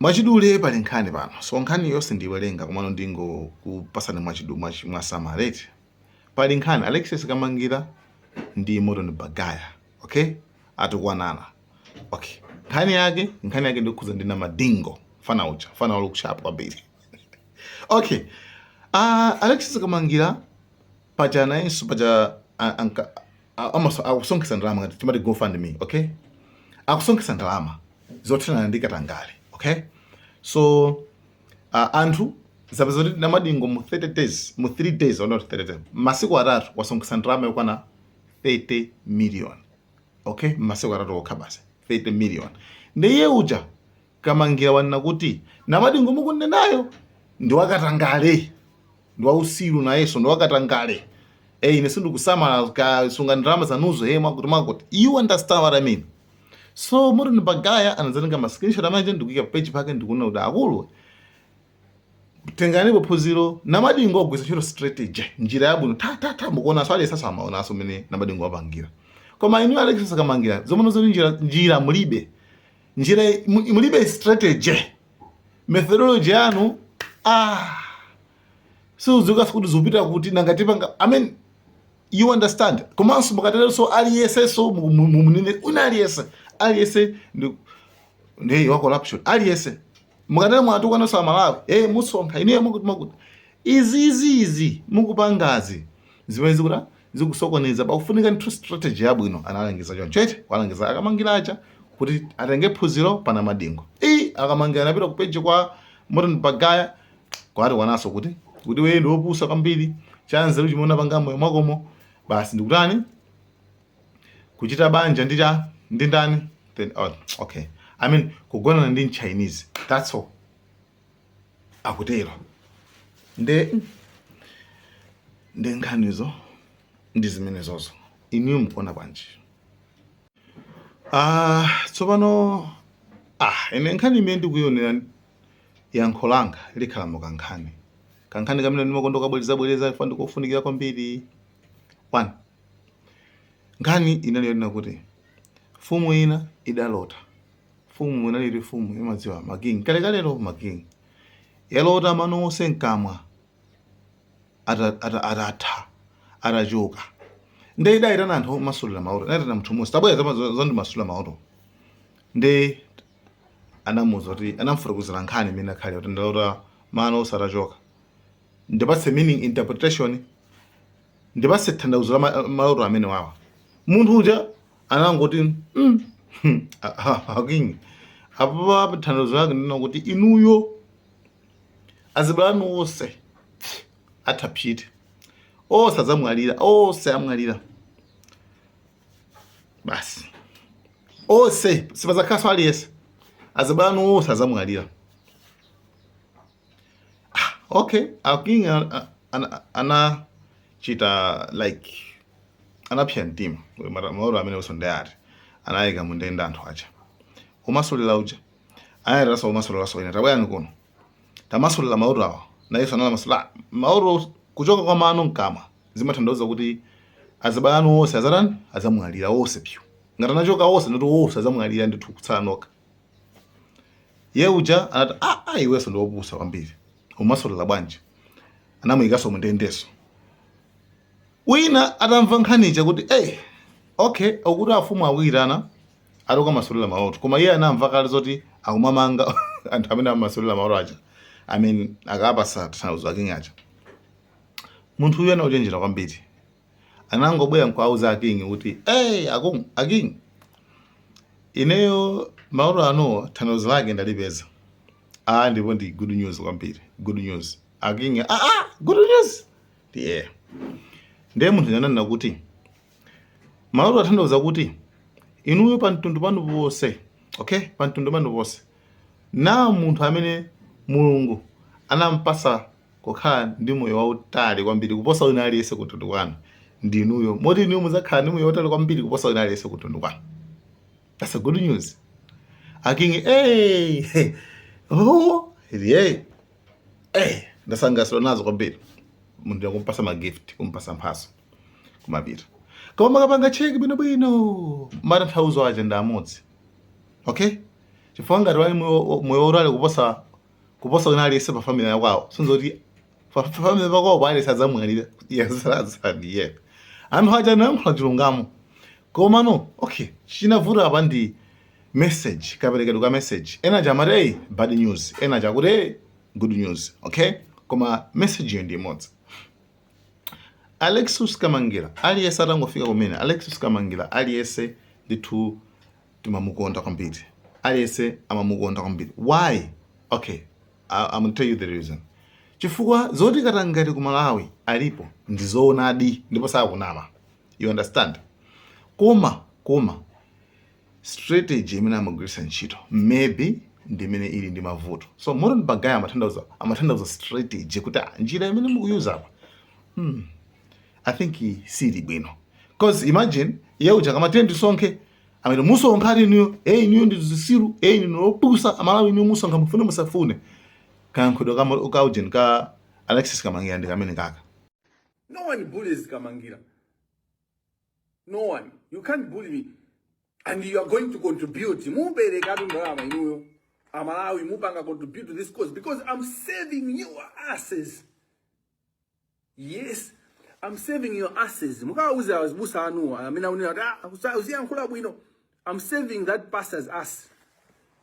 Mwachidule pali nkhani pano so nkhani yonse sindiiwerenga komano ndingokupasani mwachidu mwachi mwasamala eti pali nkhani Alexious Kamangira ndi Morton Bagaya okay atukwanana okay nkhani yake nkhani yake ndi yokhudza ndi Namadingo mfana uja mfana walook sharp kwambiri okay uh, Alexious Kamangira paja nayenso paja a- anka- a- amaso- akusonkhetsa ndalama chani timati gofundme okay akusonkhetsa ndalama zothana ndi katangale okay so uh, anthu azapeza kuti namadingo mu 30 days mu 3 days oh not 30 days masiku atatu wasonkhetsa ndalama yokwana 30 million okay masiku atatu okha basi 30 million ndiye uja Kamangira wanena kuti Namadingo mukunenayo ndi wakatangale ndi wausiru nayenso ndi wakatangale ee ine sindikusamala kasungeni ndalama zanuzo ee mwakuti mwakuti you understand what I mean so Morton Bagaya anadzatenga ma screenshot amene aja ndikuika pa page pake ndikunena kuti akulu tenganipo phunziro Namadingo wagwiritsa ntchito strategy njira yabwino ta ta ta mukuona so aliyense amaonanso mmene Namadingo wapangira koma inu Alexious Kamangira zomwe zoti njira njira mulibe njira mulibe strategy methodology yanu ah sizudziwika kuti zupita kuti nanga tipanga i mean you understand komanso mukateronso aliyensenso mumunenenena aliyense aliyense ndi ndi wa corruption aliyense mukatero mwatukwananso amalawi amusonkha inuyo mukuti mukuti izi izi izi mukupangazi zimene zikuta zikusokoneza pakufunika nthu strategy yabwino analangiza choncho eti walangiza akamangira aja kuti atenge phunziro pa Namadingo i akamangira anapita ku page kwa Morton Bagaya kukatukwananso kuti kuti iwe ndiwe wopusa kwambiri chanzeru chimene unapanga mmoyo mwakomo basi ndikutani kuchita banja ndi cha ndi ndani then oh, okay i mean kugonana ndi mchinese that's all akutero nde nde nkhanizo ndi zimenezozo inuyo mukuona bwanji ah tsopano ah ine nkhani imene ndikuyionera yankho langa likhala mu kankhani kankhani kamene ndimakonda kabwerezabwereza chifukwa ndikofunikira kwambiri one nkhani inali yonena kuti mfumu ina idalota mfumu inali iri mfumu imadziwa ma king kalekalelo ma king yalota mano onse mkamwa ata- ata- atatha atachoka nde idayitana anthu omasulira maloto inayitana munthu mmodzi tabwera uzandimasulire maloto nde anamuza kuti anamfotokozera nkhani imene ija kuti ndalota mano onse atachoka ndipatse meaning interpretation ndipase tanthauzo la ma- maloto amenewawa munthu uja anangoti mm, hmm, ah, ah, aking apapa tanthauzo lake ndi lakuti inuyo azibale anu onse atha psiti onse adzamwalira onse amwalira basi onse sipazakhaso aliyense azibale anu onse adzamwalira okay aking anachita like anapsa mtima maloto amene usondeyati anayika mundende anthu aja umasulira uja anayitanaso womasuliraso wina tabwerani kuno tamasulira maloto awa nayeso anawamasulira maloto kuchoka kwa mano mkamwa zimatanthauza kuti azibale anu onse azatani azamwalira onse pyu ngati anachoka onse ndiye kuti onse azamwalira ndithu kutsala nokha Iye uja anati ah, ah iweso ndiwe opusa kwambiri umasulira bwanji? Anamuyikaso mundendeso. Wina atamva nkhani ija kuti eh, okay akuti afumu akuyitana ati ukamasulile maloto koma iye anamva kale zoti akumamanga anthu amene amasulila maloto aja I mean akapasa tanthauzo aking aja munthu uyu anali ochenjera kwambiri anangobwera nkuwauza aking kuti hey, akung aking ineyo maloto anuwo tanthauzo lake ndalipeza a ndipo ndi good news kwambiri good news aking ah, ah, good news ndi yeah. ndiye munthu uja ananena kuti maloto atanthauza kuti inuyo pa mtundu panu ponse okay pa mtundu panu ponse ah munthu amene mulungu anampasa kukhala ndi moyo wautali kwambiri kuposa wina aliyense kumtundu kwanu ndi inuyo, moti inuyo mudzakhala ndi moyo wautali kwambiri kuposa wina aliyense kumtundu kwanu. That's a good news. Akingi, hey, hey, oh, hey, hey, anasangalatsidwa nazo kwambiri. Munthu uja kumpasa magift, kumpasa mphaso kumapita koma mukapanga cheki bwinobwino matanthauzo aja ndi amodzi okay chifukwa ngati ali moyo wautali kuposa kuposa wina aliyense pa family yakwawo si ndiye kuti fa- fa- family pakwawopa aliyense adzamwalira azasala ndi iye anthu aja anayankhula chilungamo komano okay chinavuta apa ndi message kaperekedwe ka message ena aja amati hey, bad news ena aja akuti hey, good news okay koma message yo ndi imodzi Alexious Kamangila aliyese atangofika kumene Alexious Kamangila aliyese ndithu timamukonda kwambiri aliyese amamukonda kwambiri why okay I, I'm tell you the reason chifukwa zoti katangale ku malawi alipo ndizoonadi ndipo sakunama you understand koma koma strategy imene amagwiritsa ntchito maybe ndimene ili ndi mavuto so Morton Baghaya amathandauza amathandauza strategy kuti ah, njira imene mukuyuza apa hmm. I think sili bwino cause imagine iye uja kumati ndisonkhe amene musonkha ati inuyo e inuyo ndi zisiru e inu ndi opusa amalawi inuyo musonkha mufune musafune kayankhulidwe ka ka ujeni ka Alexis Kamangira ndi kamene kaka No one bullies Kamangira. No one. You can't bully me. And you are going to contribute. Muperekatu ndalama inuyo. Amalawi mupanga contribute to this cause because I'm saving your asses. Yes. I'm saving your asses. Mukawauze azibusa anu amene akunena kuti ah, akusa- uziyankhula bwino. I'm saving that pastor's ass.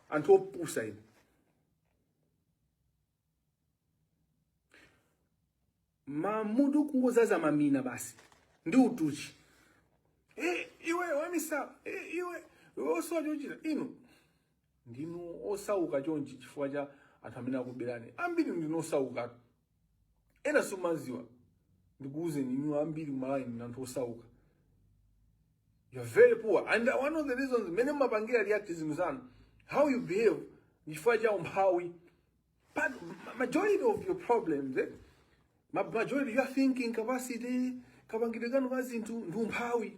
Anthu opusa inu. Mamutu kungozaza mamina basi. Ndi utuchi. Eh, iwe wamisala. Eh, iwe. Iwe osowa chochita. Inu. ndinu osauka chonchi chifukwa cha anthu amene akubelani ambiri ndinu osauka ena simumadziwa ndikuuzeni inu ambiri ku Malawi ndinu anthu osauka you are very poor and one of the reasons mene mumapangira react zinthu zanu how you behave chifukwa cha umphawi but majority of your problems eh? Ma- majority your thinking capacity kapangire kanu ka zinthu ndi umphawi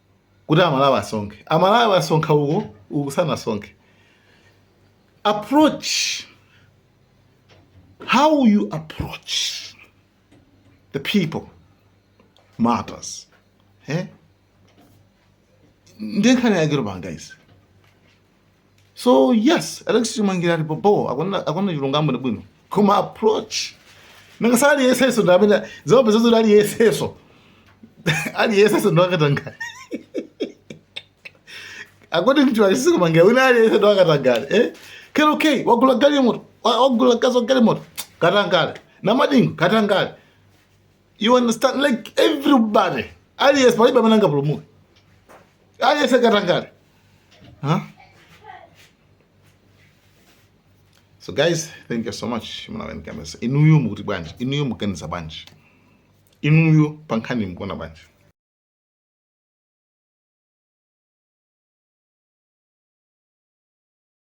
kuti amalawi asonkhe amalawi asonkha uko uku sanasonkhe approach how you approach the people matters eh? nde nkhani yake tikupanga izi so yes Alexis Kamangira ali bobo akona akona chilungamo ndi bwino koma approach nangatu aliyenseso ndi amene zope zozo aliyenseso aliyenseso ndi wakatangale according to Alexis Kamangira wina aliyenseso ndi wakatangale eh kero okay wagula galimoto wa- wagulakaso galimoto katangale Namadingo katangale you understand like everybody aliyense palibe amene angapulumuke aliyense katangale huh? so guys thank you so much mnawenkamesa inuyo mukuti bwanji inuyo mukuganiza bwanji inuyo pa nkhaniyi mukuona bwanji